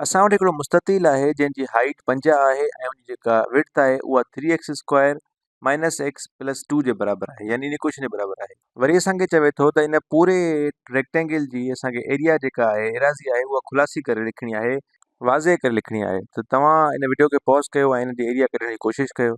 اسان وٽ هڪڙو مستطيل آهي جنهن جي هائيٽ پنجاهه آهي ۽ ان جي جيڪا وڊٿ آهي اها three x square minus x plus two جي برابر آهي يعني ان ڪوئشن جي برابر آهي وري اسان کي چوي ٿو ته ان پوري ريڪٽينگل جي اسان کي ايريا جيڪا آهي ايراضي آهي اها خلاصي ڪري لکڻي آهي واضح ڪري لکڻي آهي ته توهان ان وڊيو کي پاز ڪيو ۽ ان جي ايريا ڪڍڻ جي ڪوشش ڪيو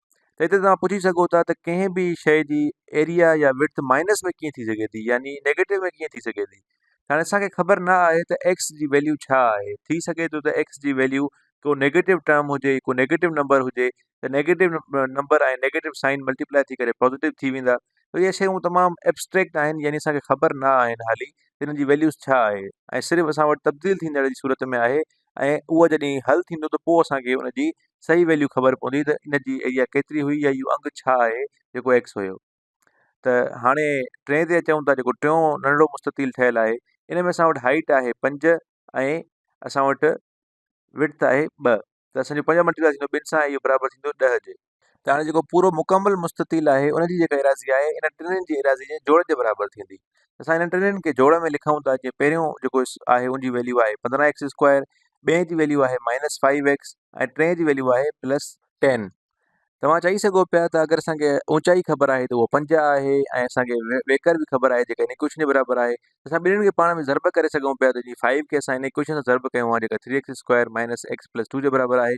ته هتي توهان پڇي سگهو ٿا ته ڪنهن به شيء جي ايريا يا ويڊٿ مائنس ۾ ڪيئن ٿي سگهي ٿي يعني نيگيٽو ۾ ڪيئن ٿي سگهي ٿي هاڻي اسان کي خبر نه آهي ته ايڪس جي ويليو ڇا آهي ٿي سگهي ٿو ته ايڪس جي ويليو ڪو نيگيٽو ٽرم هجي ڪو نيگيٽو نمبر هجي ته negative number ۽ negative sign multiply ٿي ڪري پوزيٽو ٿي ويندا ته اهي شيون تمام ابسٽريڪٽ آهن يعني اسان کي خبر نه آهن هالي ته هن جي ويليوز ڇا آهي ۽ صرف اسان وٽ تبديل ٿيندڙ جي صورت ۾ آهي ۽ اهو جڏهن حل ٿيندو ته پوء اسان کي ان جي صحيح ويليو خبر پوندي ته ان جي ايريا ڪيتري هئي يا اهو انگ ڇا آهي جيڪو ايڪس هيو ته هاڻي ٽئين تي اچون ٿا جيڪو ٽيون ننڍڙو مستطيل ٺهيل آهي ان ۾ اسان وٽ هائيٽ آهي پنج ۽ اسان وٽ وڊت آهي ٻه ته اسان جو پنج ملٽيپلائي ٿيندو ٻن سان اهو برابر ٿيندو ڏهه جي ته هاڻي جيڪو پورو مڪمل مستطيل آهي ان جي جيڪا ايراضي آهي ان ٽنهن جي ايراضي جي جوڙ جي برابر ٿيندي ته اسان انهن ٽنهن کي جوڙ ۾ لکون ٿا جيئن پهريون جيڪو آهي ان جي ويليو آهي پندرهن ايڪس اسڪوائر ٻئي جي ويليو آهي مائنس فائيو ايڪس ۽ ٽئين جي ويليو آهي پلس ٽين توهان چئي سگهو پيا ته اگر اسان کي اوچائي خبر آهي ته اهو پنجاهه آهي ۽ اسان کي ويڪر به خبر آهي جيڪا ان ايڪويشن جي برابر آهي اسان ٻنهي کي پاڻ ۾ ضرب ڪري سگهون پيا ته جي فائيو کي اسان ان ايڪويشن سان ضرب ڪيون آهي جيڪا three x square minus x plus two جي برابر آهي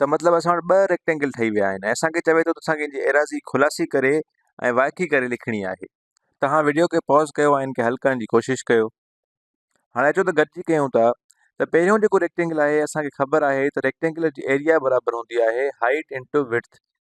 ته مطلب اسان وٽ ٻه ريڪٽينگل ٺهي ويا آهن اسانکي چوي ٿو اسانکي ان جي ايراضي خلاصي ڪري ۽ وائکي ڪري لکڻي آهي تهان وڊيو کي پوز ڪيو ۽ ان کي حل ڪرڻ جي ڪوشش ڪيو هاڻي اچو ته گڏجي ڪيون ٿا ته پهريون جيڪو ريڪٽينگل آهي اسانکي خبر آهي ته ريڪٽينگل جي ايريا برابر هوندي آهي هائيٽ انٽو وڊٿ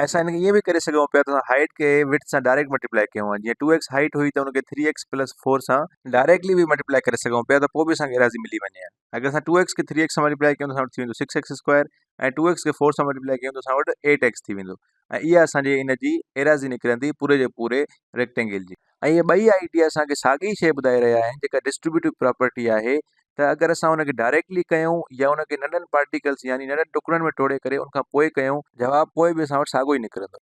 ۽ اسان ان کي ائين به ڪري سگهون پيا ته اسان هائيٽ کي وڊٿ سان ڊائريڪٽ ملٽيپلائي ڪيون ها جيئن ٽو ايڪس هائيٽ هئي ته ان کي ٿري ايڪس پلس فور سان ڊائريڪٽلي به ملٽيپلائي ڪري سگهون پيا ته پوء به اسان کي ايراضي ملي وڃي ها اگر اسان ٽو ايڪس کي ٿري ايڪس سان ملٽيپلائي ڪيون ته اسان وٽ ٿي ويندو six x square ۽ two x کي فور سان ملٽيپلائي ڪيون ته اسان وٽ ايٽ ايڪس ٿي ويندو ۽ اها اسان جي ان جي ايراضي نڪرندي پوري جي پوري ريڪٽينگل جي ۽ اهي ٻئي آئيڊيا اسان کي ساڳي شيء ٻڌائي رهيا آهن جيڪا ڊسٽريبيوٽو پراپرٽي آهي ته اگر اسان ان کي ڊائريڪٽلي ڪيون يا ان کي ننڍن پارٽيڪلز يعني ننڍن ٽڪرن ۾ ٽوڙي ڪري ان کان پوء ڪيون جواب پوء به اسان وٽ ساڳيو ئي نڪرندو.